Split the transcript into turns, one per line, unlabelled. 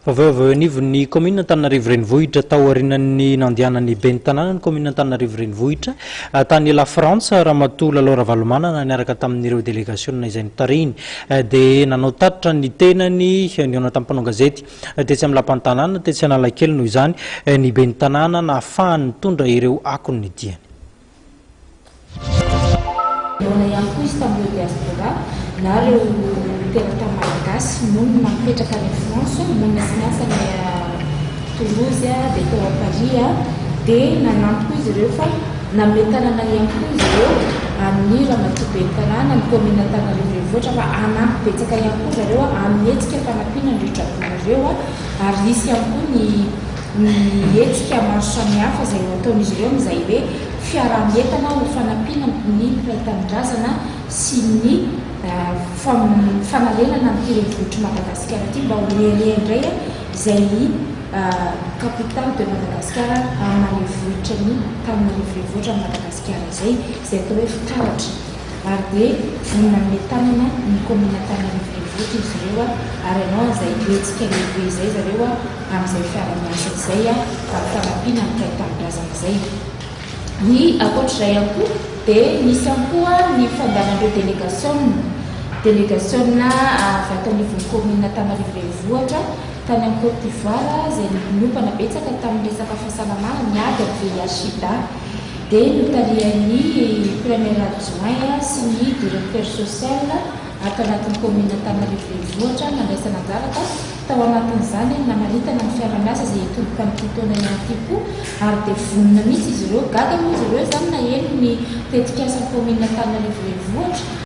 Vaovao avy eo anivon'ny kaominina Antananarivo Renivohitra tao aorianan'ny nandehanan'ny ben'ny tanàna ny kaominina Antananarivo Renivohitra tany La Frantsa, Ramatoa Lalao Ravalomanana niaraka tamin'ireo delegasiona izay notarihiny dia nanao tatitra ny tenany nihaona tamin'ny mpanao gazety tetsy amin'ny lapan'ny tanàna tetsy Analakely noho izany ny ben'ny tanàna nahafahany nitondra ireo akon'ny diany. Nahoana ihany koa izy tamin'ireo
diaspora na ireo mperata malagasy monina mipetraka any France, monina sy miasa any Toulouse dia tao Paris dia nanampy koa izy ireo fa nanome tanana ihany koa izy ireo amin'ny ramatoa ben'ny tanàna ny kaominina Antananarivo Renivohitra fa hanampy betsaka ihany koa zareo amin'ny hetsika fanampiana an'ireo dragon ireo ary hisy ihany koa ny ny hetsika maro samihafa izay nataon'izy ireo amin'izay hoe fiaraha-mientana ho fanampiana ny mpiray tanindrazana sy ny fanarenana an'ity renivohitr'i Madagasikara ity mba ho hery indray izay i Capitale de Madagascar amina renivohitra ny Tananarivo Renivohitra an'i Madagasikara izay izay atao hoe fitaratra ary hoe mbola manome tanana ny kaominina tany amin'ny renivohitra izy ireo ary hanao an'izay hetsika lehibe izay zareo amin'izay fiara-miasa izay amin'ny fanampiana ny kay tanindrazana izay. Ny ankoatr'izay ihany koa dia nisy ihany koa ny fandavan'ireo delegasiona, delegasiona avy ato anivon'ny kaominina Antananarivo Renivohitra tany amin'ny Côte d'Ivoire izay niompana betsaka tamin'ny resaka fahasalamana, ny ady amin'ny VIH-Sida. dia notarihan'ny Premier Adjoint sy ny Directeur Social ato anatin'ny Kaominina Antananarivo Renivohitra nandraisana anjara ka tao anatin'izany ny namaritana ny fiara-miasa izay hitomboka amin'ity taona ihany ity koa ary dia vonona mihitsy izy ireo. Gaga moa izy ireo izany naheno ny tetikasan'ny Kaominina Antananarivo Renivohitra.